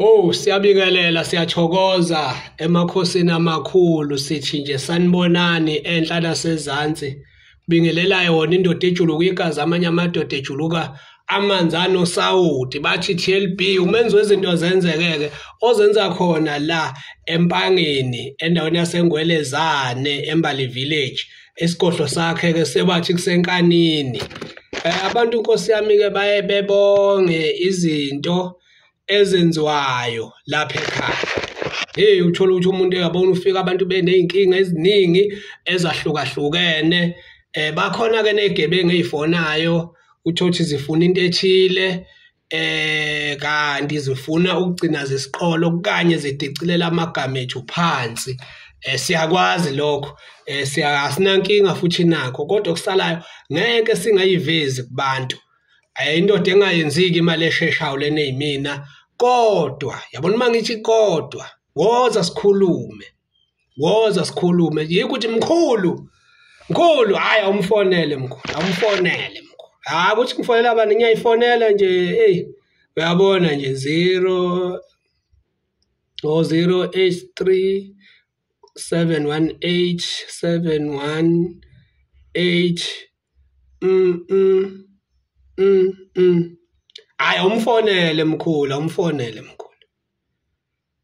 Oh siyabingelela siyathokoza emakhosini amakhulu sithi nje sanibonani enhla nasezantsi bingelelayo wona indoda ejuluka igazi amanye amadoda ejuluka amanzi anosawoti bathi TLB umenzi wezinto zenzekeke ozenza khona la empangeni endaweni yasengwelezane embali village isigodlo sakhe ke sebathi kusenkanini eh, abantu inkosi yami ke baye bebonge izinto ezenziwayo lapha ekhaya hey uthola ukuthi umuntu uyabona ufika abantu beneyinkinga eziningi ezahlukahlukene eh bakhona ke negebengu ezifonayo uthothi zifuna into ethile eh kanti zifuna ukugcina zisiqholo kanye zidicilela amagama ethu phansi eh siyakwazi lokho eh siyasinankinga futhi nakho kodwa kusalayo ngeke singayivezi kubantu ayindoda eh, engayenziki imali esheshayo lena yimina kodwa yabona uma ngithi kodwa woza sikhulume woza sikhulume yikho ukuthi mkhulu mkhulu hhayi awumfonele mkhulu awumfonele mkhulu hhayi ukuthi ngifonela abantu ngiyayifonela nje eyi uyabona nje zero o oh, zero eight three seven one eight seven one eight mm mm mm mm hhayi awumfonele mkhulu awumfonele mkhulu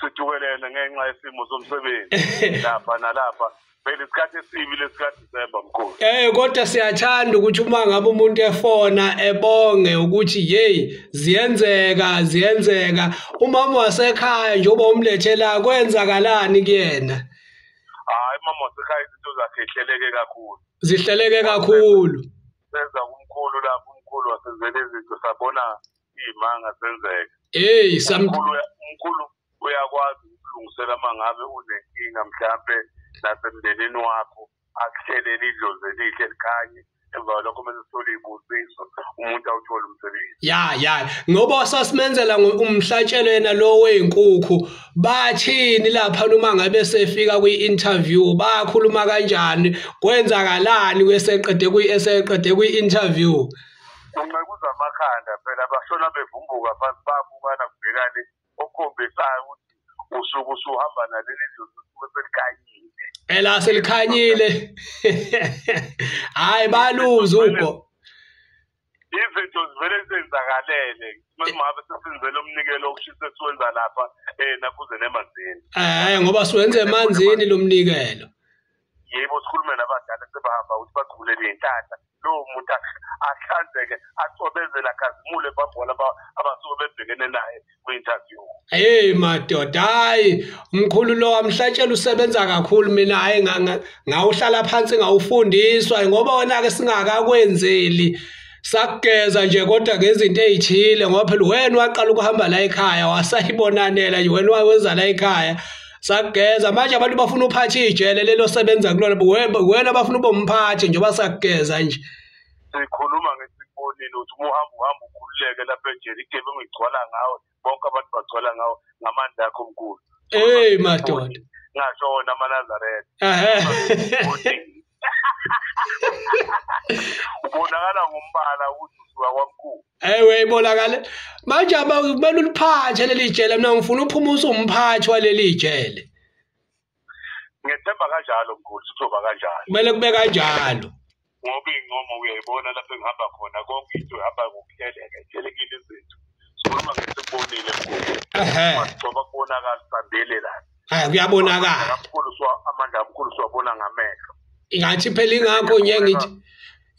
sidukelene ngenxa yesimo somsebenzi lapha nalapha phela isikhathi esibi lesikadisemba mkhulu eh kodwa siyathanda ukuthi uma ngabe umuntu efona ebonge ukuthi hey ziyenzeka ziyenzeka umama wasekhaya njengoba umlethela kwenzakalani kuyena hayi mama wasekhaya izinto zakhe ihleleke kakhulu zihleleke kakhulu senza kumkhulu lapho umkhulu wasenzela izinto sabona imanga senzeka hey samkhulu umkhulu uyakwazi ukulungisela mangabe unenkinga mhlambe nasemndenini wakho akuhlelele idlozi elihle likhanye emva lokho mase sithole ibusiso umuntu awuthole umsebenzi ya ya ngoba sasimenzela umhlatshelo yena lo wezinkukhu bathini lapha noma ngabe sefika kwi interview bakhuluma kanjani kwenzakalani kweseqede kwi eseqede kwi interview kunqekuza amakhanda phela bashona bevumbuka phansi babukana kubhekane okukhombisayo ukuthi usuku usuhamba naleli dlozi usuke selikanyile ela selikhanyile hayi baluza ugo izinto zivele zenzakalele masimabe sesenzele umnikelo okushisa esiwenza lapha eh nakhuze nemanzini eh ngoba siwenze emanzini lomnikelo yebo sikhulume nabadala sebahamba ukuthi bagqule ney'nhlanhla lowo muntu ahlanzeke acobezele akhazimule babona abasuke bebhekene naye kwi-interview heyi madoda hhayi mkhulu lo wamhlatshela usebenza kakhulu mina hhayi ngawuhlala phansi ngawufundiswa ngoba wona-ke singakakwenzeli sakugeza nje kodwa ngezinto ezithile ngoba phela wena waqala ukuhamba la ekhaya wasayibonanela nje wena wawenza la ekhaya sageza manje abantu bafuna uphathe ijele lelo sebenza kulona wena bafuna ube umphathi njengoba sageza nje sikhuluma ngesibonile ukuthi uma uhamba uhamba ukhululeke lapha enjeni igebengu igcwala ngawe bonke abantu bagcwala ngawo ngamandla akho omkhulu hey madoda ngasho wona amanazaretha ubonakala ngombala ukuthi usuka kwamkhulu ewe ibonakale manje kumele uliphathe leli jele mina ngifuna uphuma usumphathi waleli jele ngethemba kanjalo mkhulu sizoba kanjalo kumele kube kanjalo ngoba iy'ncomo uyayibona lapho engihamba khona konke into ihamba ngokuhleleka ihlelekile izinto sikhuluma ngesikubonile mkhuluoba kubonakala sibambele la hayi kuyabonakala mkhulu amandla mkhulu siwabona ngamehlo ingathi phela ingakho nje ngithi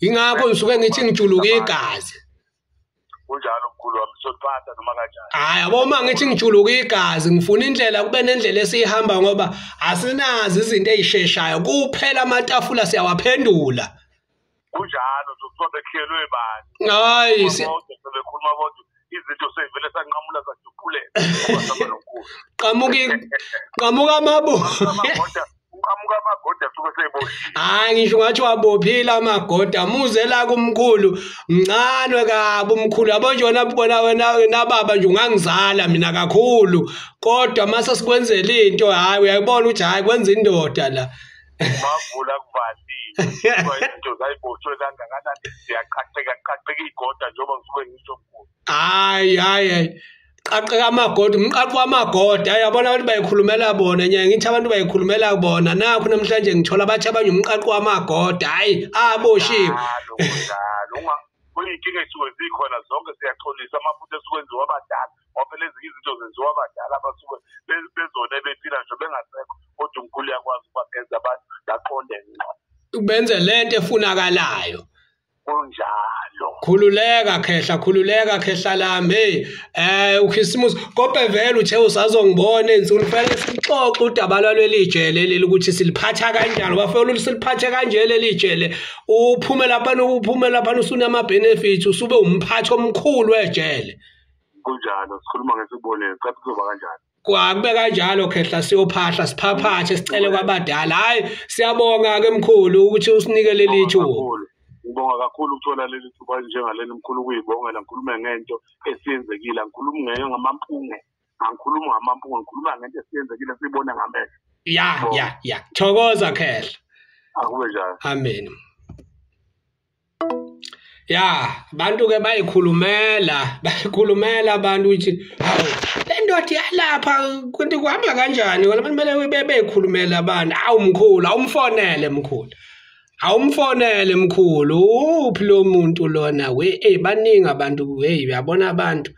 ingakho ngisuke ngithi ngijuluka igazi kunjalo mkhulu wami sothatha noma kanjani hayi yabo uma ngithi ngijuluka igazi ngifuna indlela kube nendlela esiyihamba ngoba asinazi izinto ezisheshayo kuphela amatafula siyawaphendula kunjalo sokusobe kuhlelwe bani hayi sebekhuluma kodwa izinto sevele sanqamula saduphuleka qamuka qamuka amabu uqhamuka amagoda suke seyiboshiwe hayi ngisho ngathi wabophile amagoda muze la kumkhulu mncane kabi umkhulu yabo nje wena bona wena nababa nje ungangizala mina kakhulu kodwa mase sikwenzela into hayi uyayibona ukuthi hayi kwenza indoda la bavula kuvaliwe into zayiboshwe kangakanani siyaqhaqheka qhaqheka igoda njengoba ngisuke ngisho mkhulu hayi hayi hayi qaqeka amagoda umqaqo wamagoda yabona abantu bayikhulumela bona nyaya ngithi abantu bayikhulumela bona nakho namhlanje ngithola abathi abanye umqaqo wamagoda hayi aboshiwe kuyinkinga esuke zikhona zonke siyaxolisa amaphutha esuke enziwa abadala ngoba phela ezinye izinto zenziwa abadala abasuke bezona ebephila nje bengasekho kodwa umkhulu yakwazi ukubagenza abantu baqonde ngqo ubenze lento efunakalayo kunjalo khululeka khehla khululeka khehla lami hey eh ukhisimusi kope vele uthe usazongibona ensuku fanele sixoxe udaba lwaleli jele leli ukuthi siliphatha kanjani bafela usiliphathe kanje leli jele uphume lapha uphume lapha usunama benefits usube umphathi omkhulu wejele kunjalo sikhuluma ngesibonelo cha kuzoba kanjani Kwakube kanjalo khehla siyophahla siphaphathe sicele kwabadala. Hayi siyabonga ke mkhulu ukuthi usinike leli thuba. Ngibonga kakhulu ukuthola leli thuba njengaleli mkhulu kuyibongela ngikhulume ngento esiyenzekile ngikhuluma ngeke ngamampunge angikhulumi ngamampunge ngikhuluma ngento esiyenzekile sibone ngamehlo. Ya ya ya. Thokoza khehla. Akube njalo. Amen. ya abantu ke bayikhulumela bayikhulumela abantu ukuthi hawu le ndoda iyalapha kanti kuhamba kanjani wena kumele bebeyikhulumela abantu awu mkhulu awumfonele mkhulu awumfonele mkhulu uphi lo muntu lona we ey baningi abantu hey uyabona abantu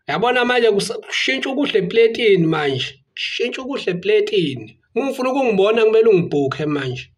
uyabona manje kushintsha ukuhle epletini manje shintsha ukuhle epletini uma ufuna ukungibona kumele ungibhukhe manje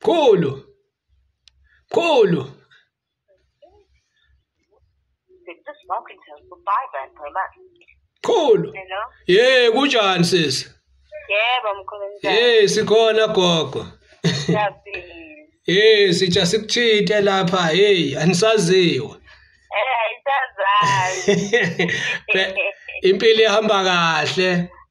Mkhulu. Mkhulu. Mkhulu. Yey kunjani sisi? Yebo mkhulu. Hey sikhona gogo. Hey sitha sikuthinte lapha hey anisaziwe. Eh isazazi. Impilo ihamba kahle.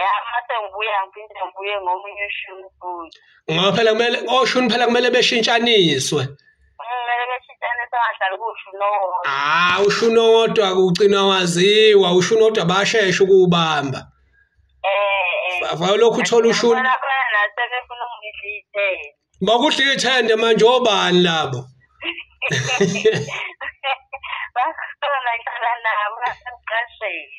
ya mase ngibuya ngiphinde ngibuye ngomunye ushuni futhi ngoba phela kumele oshuni phela kumele beshintshaniswe kumele beshintshaniswe angahlali kushuni owodwa ah ushuni owodwa kugcina waziwa ushuni owodwa basheshe ukuwubamba eh, eh. valo lokhu uthola ushuni nasebefuna ukudla ithende bakudla ithende manje obani labo bakhona ngihlala nabo ngasemqasheni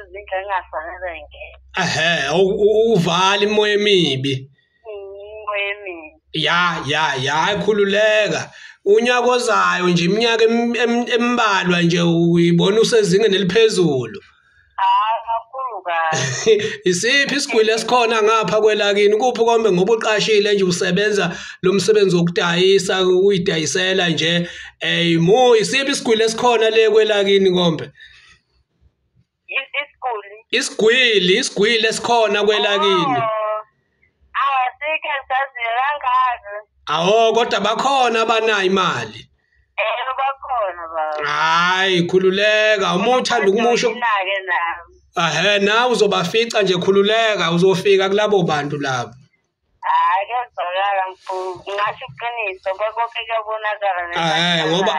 izindlu engafanele ngeke ehe uvala imoya emibi imoya emibi ya ya ya ayikhululeka unyaka ozayo nje iminyaka embalwa nje uyibona usezingeni eliphezulu isiphi isigwili esikhona ngapha kwelakini kuphi kombe ngoba uqashile nje usebenza lo msebenzi wokudayisa uyidayisela nje ey mo isiphi isigwili esikhona le kwelakini kombe isiguli isigwili isigwili esikhona kwelakini awasikho oh. ah, saziyo kangaka awo kodwa bakhona abanayo imali eh bakhona baba hayi khululeka uma uthanda ukumusho nake nami ahe nawe uzobafica nje khululeka uzofika kulabo bantu labo Hayi kezwakala mfowethu ngasho iqiniso konke kuyabonakala hayi ngoba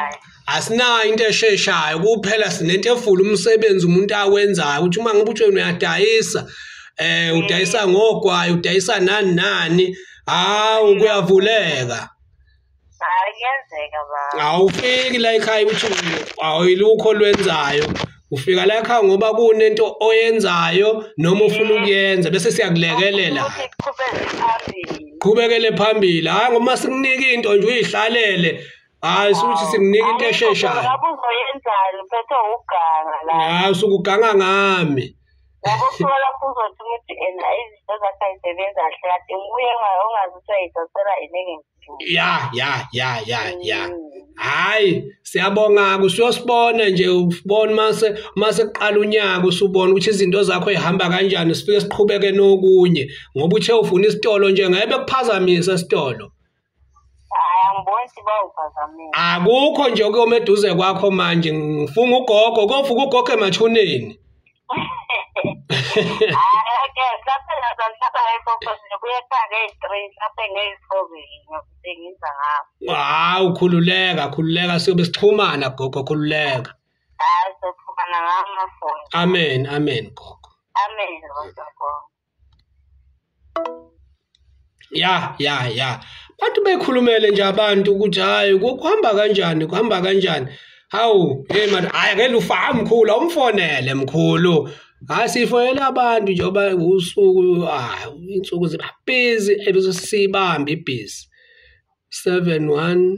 asinayo into esheshayo kuphela sinento efula umsebenzi umuntu awenzayo ukuthi uma ngoba utsheni uyadayisa eh udayisa ngogwayi udayisa nani nani hawu kuyavuleka Hayi kuyenzeka baba. Awufiki la ekhaya ukuthi awuyilukho lwenzayo. Ufika la ekhaya ngoba kunento oyenzayo noma ufuna ukuyenza bese siyakulekelela. Qhubekele phambili. Hayi ngoba sikunika into nje uyihlalele. Hayi suthi sikunika into esheshayo. Lapho uzoyenzani phethe uganga la. Hayi usukuganga ngami. Yabo kuthiwa lapho uzothi ukuthi and izinto zakhe ayisebenzi kahle kade nguye ongazi ukuthi uyayidosela yini engekho. ya ya ya ya ya mm. hayi siyabonga kusiyosibona nje ubona mase mase kuqala unyaka usubona ukuthi izinto zakho ihamba kanjani sifike siqhubeke nokunye ngoba uthe ufuna isitolo nje ngeke kuphazamisa isitolo akukho nje okuyoma eduze kwakho manje ngifunga ugogo kofuka ugogo emathuneni hawu khululeka khululeka siyobe sixhumana gogo khululeka amen amen gogo amen ya ya ya bantu bekhulumele nje abantu ukuthi hayi kuhamba kanjani kuhamba kanjani hawu hey man hayi ngeke ufa mkhulu awumfonele mkhulu hayi sifonele abantu njengoba usuku hayi insuku ziba busy ebese sibambe ibhizi 718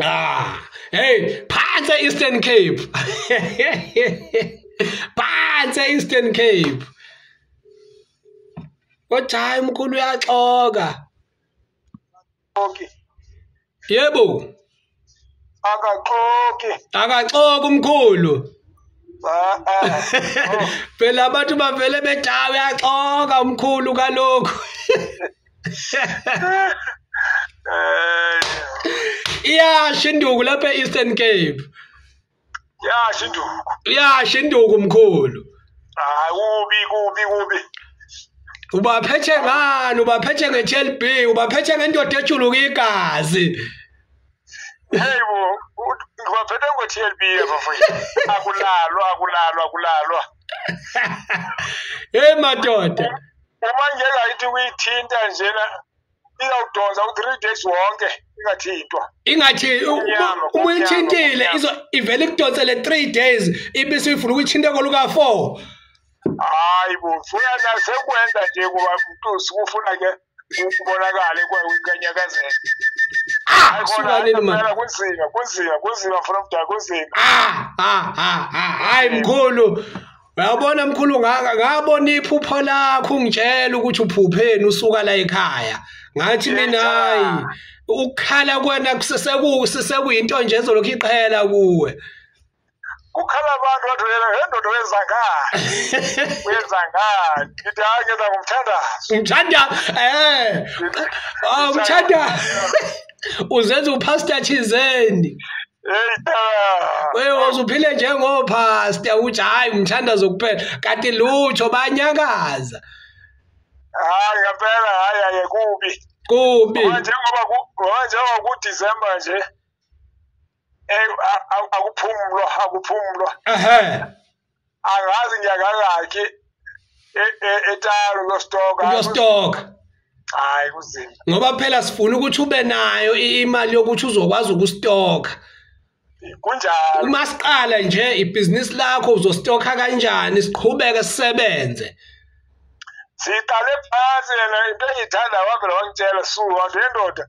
ah hey phansi eastern cape phansi eastern cape kodwa hayi umkhulu uyaxoka okay yebo akaxoki akaxoki umkhulu ah, ah. phela abantu bavele bedawe yaxoka umkhulu kalokhu iyasho induku lapha e-eastern cape yasho induku iyasho induku mkhulu hayi kubi kubi kubi ubaphethe ngani ubaphethe nge-tlb ubaphethe ngendoda ejuluka igazi heyi bo ngibaphethe ngo-tlb abafowethu akulalwa akulalwa akulalwa heyi madoda uma ngeke ayithi uyithinta njena iyawudonsa u-three days wonke ingathintwa ingathi uma uyithintile ivele ikudonsele three days ibe suyifuna ukuyithinta koluka-four hayi bo fuya nasekwenza nje kuba mtusi kufuna ke kubonakale kwewinkanyakazela ah, kunzima kunzima kunzima from da kunzima ah, ah, hayi mkhulu Uyabona mkhulu ngaka ngabona iphupho lakho ungitshela ukuthi uphupheni usuka la ekhaya. Ngathi mina hayi ukukhala kwena kusesekusi sekuyinto nje ezolokhu iqhela kuwe. Ukhala abantu wathi wena ngendodo wenza ngani? Wenza ngani? Ngithi hayi ngenza ngomthandazo. Ngithanda eh. Awumthanda. Ah, Uzenza upastor thizeni. Wewe uzuphile njengopastor uthi hayi umthanda zokuphela kanti lutho banyakaza. Hayi ngempela hayi hayi kubi. Kubi. Njengoba njengoba ku December nje eh akuphumulwa akuphumulwa. Ehhe. angazi ngiyakangakhi e- e- etalo lostoka uyostoka hayi kuzima ngoba phela sifuna ukuthi ube nayo i- imali yokuthi uzokwazi ukustoka kunjalo uma siqala nje ibhizinisi lakho uzostoka kanjani siqhubeke sisebenze siqale phansi yena into engiyithanda wavela wangitshela su wantu yendoda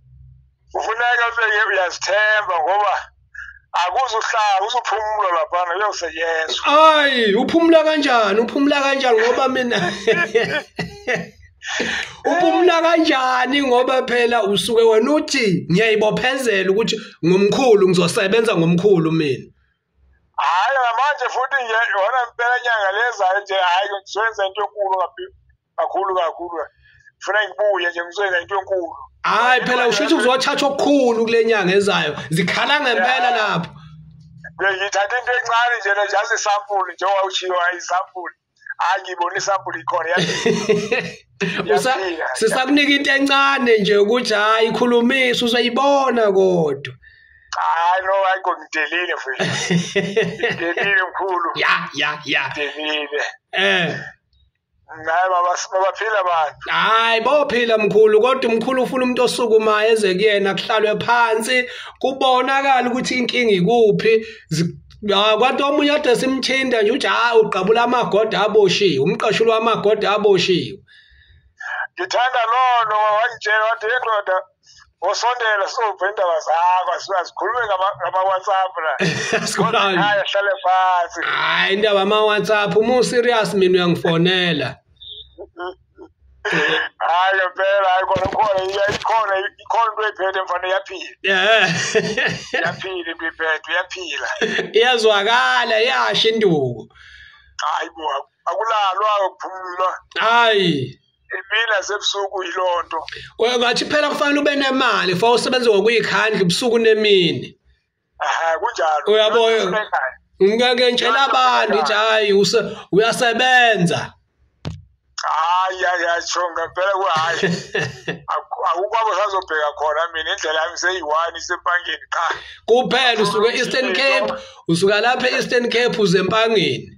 kufuneka ube uyazithemba ngoba akuzuhlala usuphumula laphana uyosetyenzwa hayi uphumula kanjani uphumula kanjani ngoba mina uphumula kanjani ngoba phela usuke wena uthi ngiyayibophezela ukuthi ngomkhulu ngizosebenza ngomkhulu mina hayi namanje futhi nje yona impela nyanga lezayo nje hayi ngizoyenza into enkulu kabi kakhulu kakhulu funa ngibuye nje ngizoyenza into enkulu hayi phela usho ukuthi kuzothatha okukhulu kule nyanga ezayo zikhala ngempela lapho ngithatha into encane nje le just isampuli njengoba ushiyo ayisampuli hayi ngibona isampuli ikhona sisakunika into encane nje ukuthi hayi khulumisa usayibona kodwa hayi no hayi ngidelile futhi ngidelile mkhulu ya ya ya ngidelile eh Hayi baba sibaphila abantu. Hayi bophila mkhulu kodwa umkhulu ufuna umuntu osukumayo eze kuyena kuhlalwe phansi kubonakala ukuthi inkinga ikuphi Ya kwathi omunye ade simthinta nje uthi hayi ugqabula amagoda aboshiwe umqashuli wamagoda aboshiwe. Ngithanda lono wangitshela wathi yendoda ngosondela sizova indaba zakho sikhulume ngama-whatsapp la kodwa hlale phansi hayi indaba ama-whatsapp uma userious mina uyangifonela hayi ngempela hayi kona khona ikhona ikhona into ephethe mfana iyaphila iyaphila into ephethe iyaphila iyazwakala iyasho induku hayi bo akulalwa kuphumulwa hayi imini nasebusuku yiloo nto ngathi phela kufanele ube nemali for usebenze ngokuyikhandla ubusuku nemini kunjalo uyabo ngeke ngitshela abantu ukuthi hayi uyasebenza hayi yasho ngempela kuhayi akukwabo sazobheka khona mina indlela yami seyi-one isempangeni qha kuphela usuke eastern cape usuka lapha e-eastern cape uze empangeni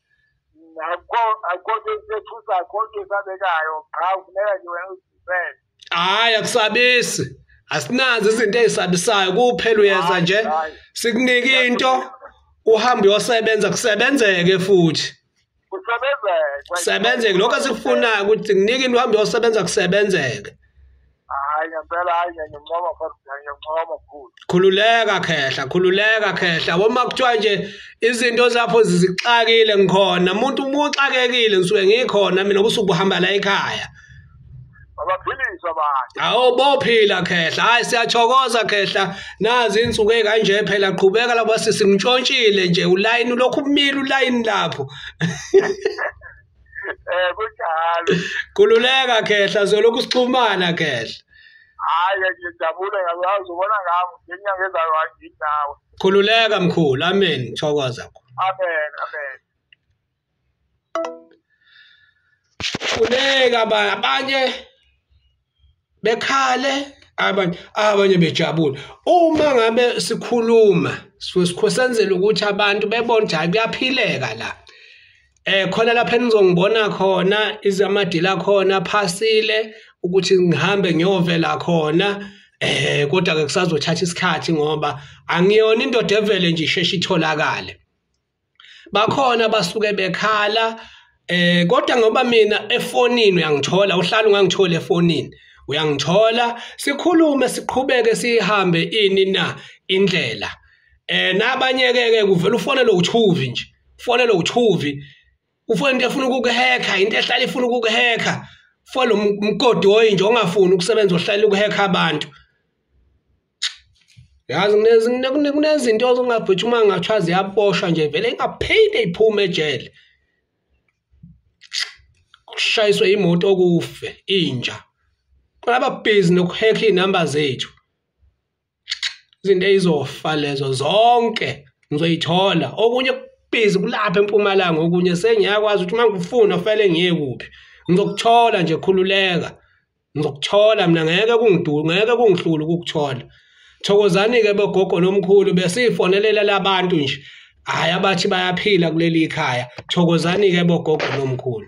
akukho nto esethusa akukho nto esabekayo qha kufuneka nje wena uzivele hhayi akusabisi asinazo izinto ezisabisayo kuphela uyeza nje sikunike into uhambe uyosebenza kusebenzeke futhi kusebenzeke kusebenzeke lokho esikufunayo ukuthi nginike into uhambe uyosebenza kusebenzeke hayi ngempela hayi ngiyancoma futhi ngiyancoma mkhulu khululeka khehla khululeka khehla woma kuthiwa nje izinto zakho zizixakile ngikhona umuntu umuxakekile ngisuke ngikhona mina ubusuku uhamba la ekhaya abaphiliswa abantu awu bophila khehla hayi siyathokoza khehla nazi insuku ekanje phela qhubeka labo sisi ngishontshile nje ulayini lokhu umile ulayini lapho Eh kunjalo. Kululeka khehla zolokhu sixhumana khehla. Hayi ngiyajabula yazi ubona ngami ngenyanga ezayo anginawe. Khululeka mkhulu amen thokoza. Amen amen. Kuleka abanye bekhale abanye abanye bejabule uma ngabe sikhuluma sikhosenzela ukuthi abantu bebone ukuthi hayi kuyaphileka la eh khona lapha enizongibona khona izamadila khona phasile ukuthi ngihambe ngiyovela khona eh kodwa ke kusazothatha isikhathi ngoba angiyona indoda evele nje isheshe itholakale bakhona basuke bekhala eh kodwa ngoba mina efonini uyangithola uhlala ungangithola efonini uyangithola sikhulume siqhubeke sihambe ini na indlela eh nabanye ke ke kuvela ufonelo uchuvi nje ufonelo uchuvi ufona into efuna ukukuhekha into ehlala ifuna ukukuhekha fo lo mgodi oyinje ongafuni ukusebenza ohlala ukuhekha abantu yazi kunezinto ongabhuthi uma ngathiwa ziyaboshwa nje vele ingaphinde iphume ejele kushayiswe imoto okufe inja kulaba busy nokuhekha iy'namba zethu izinto eyizofa lezo zonke ngizoyithola okunye kubhizi kulapha empumalanga okunye sengiyakwazi ukuthi uma ngikufuna fanele ngiye kuphi ngizokuthola nje khululeka ngizokuthola mina ngeke kungiduku ngeke kungihlulu ukukuthola thokozani-ke bogogo nomkhulu besiyifonelela labantu nje hhayi abathi bayaphila kuleli khaya thokozani-ke bogogo nomkhulu